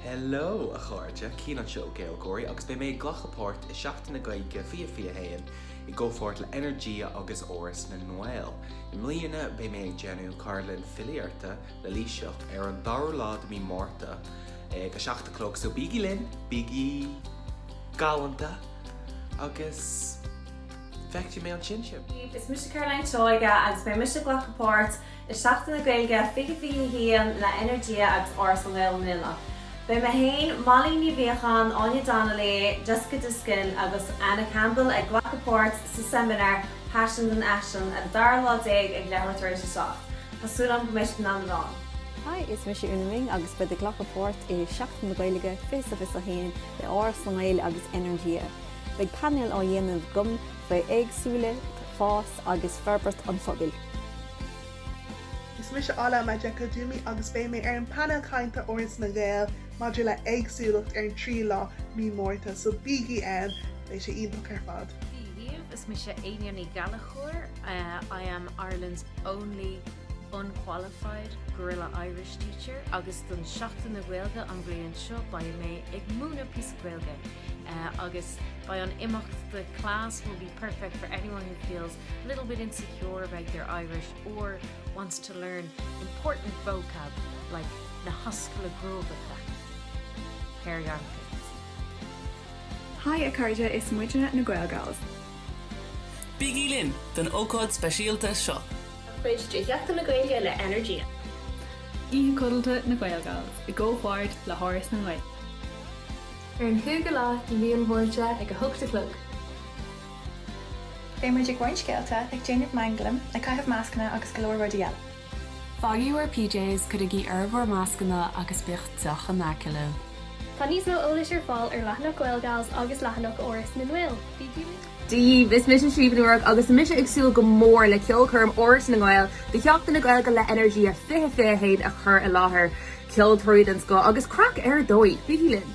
Hello, a chairde, Cian anseo ó Gaeilgeoirí agus beidh mé ag glacadh páirt i Seachtain na Gaeilge 2021 i gcomhpháirt le Energia agus Áras na nGael. I mbliana beidh mé ag déanamh cartlann filíochta le Laoighseach ar an dara lá de mhí Márta ag a seacht a chlog so bígí linn, bígí galánta agus feicfidh mé ansin sibh! Is mise Caroline Seoige agus beidh mise ag glacadh páirt i Seachtain na Gaeilge 2021 le Energia agus Áras na nGael i mbliana. Beidh mé féin, Molly Ní Mhiacháin, Áine Donnelly, Jessica Diskin agus Anna Campbell ag glacadh páirt sa seimineár 'Paisean don Fhaisean' an dara lá déag ag leathuair tar éis a seacht. Tá súil agam go mbeidh sibh in ann a bheith ann. Hi, is mise Úna-Minh agus bead ag glacadh páirt i Seachtain na Gaeilge 2021 le hÁras na nGael agus Energia. Beidh painéal á dhéanamh agam, faoi éagsúlacht, fás agus forbairt an phobail. Is mise Ola Majekodunmi agus beidh mé ar an bpainéal cainte Áras na nGael maidir le héagsúlacht ar an 3ú lá mí Márta, so bígí ann, beidh sé iontach ar fad. Haigh, is mise Eithne Ní Ghallchobhair, I am Ireland's only unqualified Guerrilla Irish teacher agus don Seachtain na Gaeilge an bhliain seo beidh mé ag múineadh píosa Gaeilge. agus beidh an imeacht The class will be perfect for anyone who feels a little bit insecure about their Irish or wants to learn important vocab like na hascaillí Gruagacha, hairy armpits. Hi a chairde is muidne na Gaelgals. Bígí linn don ócáid speisialta seo. mar chuid de Sheachtain na Gaeilge le Energia. Oíche codlata na Gaelgals i gcomhpháirt le hÁras na nGael. ar an chúigiú lá de mhí an Mhárta ag a hocht a chlog. Beidh muid ag roinnt scéalta, ag déanamh manglaim, ag caitheamh mascanna agus go leor rudaí eile. Faighigí bhur PJs, cuirigí oraibh bhur mascanna agus bíodh deoch in aice libh. Tá níos mó eolais ar fáil ar leathanach Gaelgals agus leathanach Áras na nGael. Bígí linn! Dia daoibh, is mise Siún Ní Ruairc agus tá mise ag súil go mór le ceolchoirm Áras na nGael do Sheachtain na Gaeilge le Energia 2021 a chur i láthair. Ceoltóirí den scoth agus craic ar dóigh! Bígí linn!